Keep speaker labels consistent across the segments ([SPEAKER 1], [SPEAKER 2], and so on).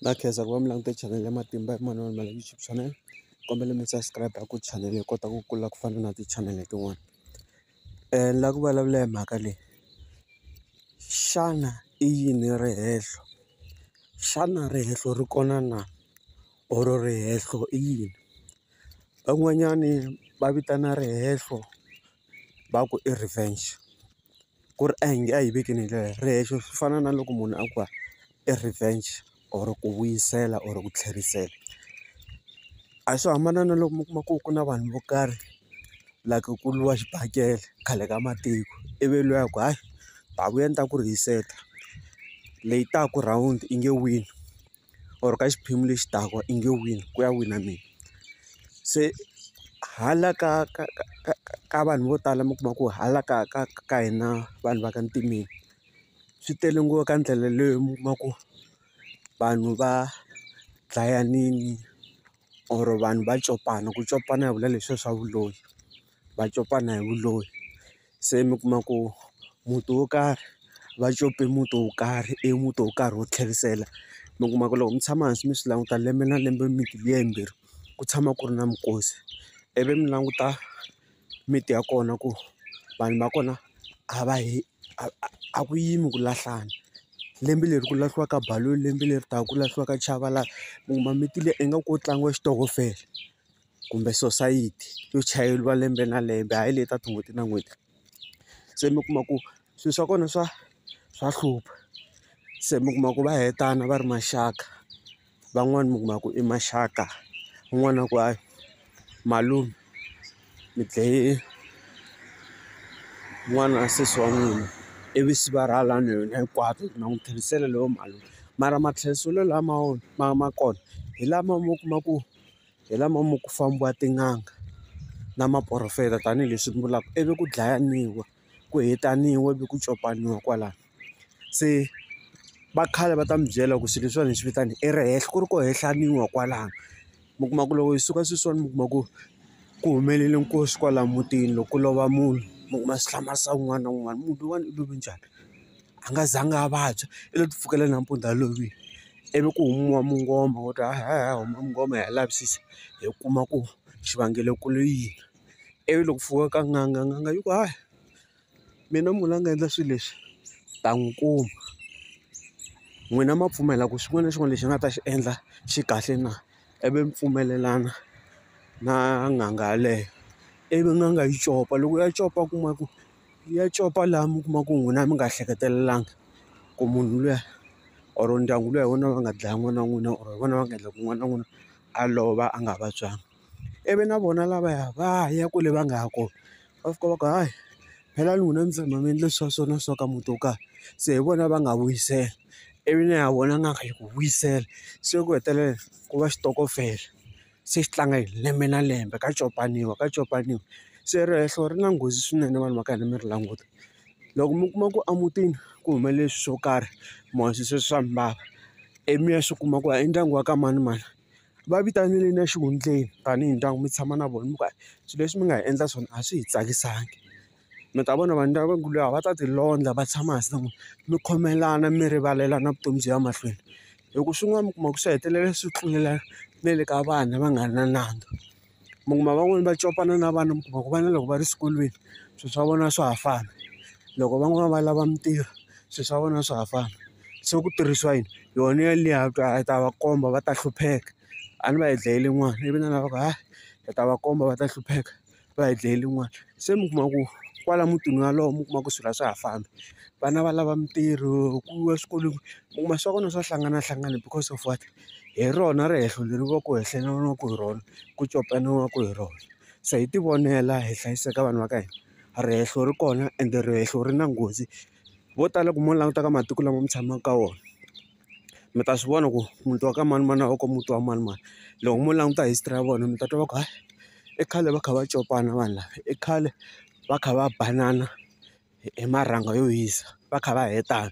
[SPEAKER 1] Na khensa ku va mi langute chanele ya matimba ya manana ma YouTube channel kombela mi subscribe ku chanele yi kota ku kula ku fana na ti-channel tin'wana ni lava ku vulavula hi mhaka leyi xana i yini rihehlo xana rihehlo ri kona na or rihehlo i yini van'wanyani va vitana rihehlo. va ku i revenge ku ri a hi nge a yi vekeni hi ndlela leyo ri hehlo swi fana na loko munhu a ku i revenge or ku vuyisela or ku tlherisela a swo hambana na loko mi kuma ku ku na vanhu vo karhi like ku lwiwa xibakele khale ka matiko ivi luya a ku hayi ta vuya ni ta ku rihiseta leyi taka round i nge wini. or ka xiphemu lexi taka i nge wina ku ya wina mina se hala ka ka ka ka ka ka vanhu vo tala mi kuma ku hala ka ka ka hina vanhu va ka ntimeni swi tele ngopfu ka ndlela leyo mi kuma ku vanhu va dlayanini or vanhu va copana ku copana hi vula leswiya swa vuloyi. va copana hi vuloni se mi kuma ku muti wo karhi va cope muti wo karhi i muti wo karhi wo tlherisela mi kuma ku loko mi tshama hansi mi swi languta lembe na lembe mimiti liya yimbirhi ku tshama ku ri na minkosi ivi mi languta miti ya kona ku vanhu va kona a va yi a ku yimi ku lahlana lembe leri ku lahliwaka balloon lembe leri taka ku lahliwaka chava laha mi kuma miti liya ingaku ko tlangiwa xitokofela. kumbe sosayiti yo chayeriwa lembe na lembe hayi leyi ta tin'hweti na n'hweti. Se mi kuma ku swilo swa kona swa swa hlupha, se mi kuma ku va hetana va ri maxaka. Van'wani mi kuma ku i maxaka, un'wana a ku hayi malume mi dlaye n'wana wa sesi wa n'wina, ivi se va rhwala na yona hinkwato na n'wi tlherisela loyo mali. Mara matlheriselo lama ma ma kona hi lama mo kuma ku. hi lama ma ku fambiwa tin'anga na maporofeta tanihileswi ni vulaka ivi ku dlayiwa ku hetaniwe ivi ku copaniwa kwalano se va khale va ta mi byela ku swilo leswiwani hi swi vitana i ri henhla ku ri ku hehleniwa kwalano mi kuma ku loko hi suka sweswiwani mi kuma ku ku humelele nkosi kwalaya mutini loko ku lova munhu mi kuma swi hlamarisa un'wana na un'wana munhu loyiwani u love njhani. a nga zanga a vabya i lo ti pfukela nampundzu a lovile ivi ku humiwa mungoma wo ta hi ya hi ya huma mungoma hi ya lavisisa hi kuma ku xivangelo ku ri yini ivi loko ku fika ka n'anga n'anga yi ku hayi mina munhu la nga endla swilo leswi ta n'wi kuma n'wina ma pfumela ku xin'wana na xin'wana lexi a nga ta xi endla xi kahle na ivi mi pfumelelana na n'anga yaleyo ivi n'anga yi copa loko ya copa a kuma ku. ya copa laha mi kuma ku n'wina mi nga hleketelelanga ku munhu luya or ndyangu luya hi wona va nga dlaya n'wana wa n'wina or hi vona va nga endla ku n'wana wa n'wina a lova a nga vabyanga ivi na vona lavaya va ya kwale va nga ya kona va fika va ku hayi phela ni n'wina mi tshama mi endle swa so na so ka muti wo karhi se hi vona va nga vuyisela ivi na ya vona n'anga yi ku vuyisela se ku hetelela ku va xitokofela. se xi tlanga hi lembe na lembe ka copaniwa ka copaniwa se rihehlo ri na nghozi swinene vanhu va ka hina mi ri languta loko mi kuma ku emutini ku humelele swilo swo karhi mi swi swa mbala ivi mi ya swi kuma ku i ndyangu wa ka manimani va vitaneleni exihundleni tanihi ndyangu mi tshama na vona mi ku swilo leswi mi nga hi endla swona a swi hi tsakisangi. mi ta vona vanhu lava va ku a va ta ti londla va tshama hansi na n'wina mi khomelana mi rivalelana vutomi byi ya mahlweni hi ku swin'wana mi kuma ku swi hetelela swi tlulela na le ka vana va nga ri na nandza mi kuma van'wani va copana na vana mi kuma ku vana loko va ri xikolweni swilo swa vona swa ha fana loko van'wani va lava mitirho swilo swa vona swa ha fana se ku tirhisiwa yini yona yaliya ku a hi ta va komba va ta hlupheka a ni va hi dlayile n'wana ivi na lava ku hayi hi ta va komba va ta hlupheka. va hi dlayele yin'wana se mi kuma ku kwala mutini wolowo mi kuma ku swilo a swa ha fambi vana va lava mitirho ku yiwa swikolweni mi kuma swa vona swa hlanganahlangana because of what hi rona rihehlo leri va ku hi hlanganiwaka hi rona ku copaniwaku hi rona se hi ti vonela hi hlayiseka vanhu va ka hina rihehlo ri kona ende rihehlo ri na nghozi vo tala ku mo languta ka matiko lama mi tshamaka ka wona. mi ta swi vona ku muti wa ka manimani a wu kombi muti wa manimani loko mo languta history ya vona mi ta twa va ku hayi i khale va kha va copana vanhu lava i khale va kha va banana hi marhanga yo hisa va kha va hetana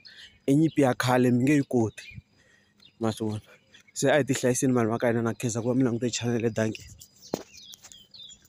[SPEAKER 1] i nyimpi ya khale mi nge yi koti ma swi vona se a hi ti hlayiseni vanhu va ka hina na khensa ku va mi langute chanel .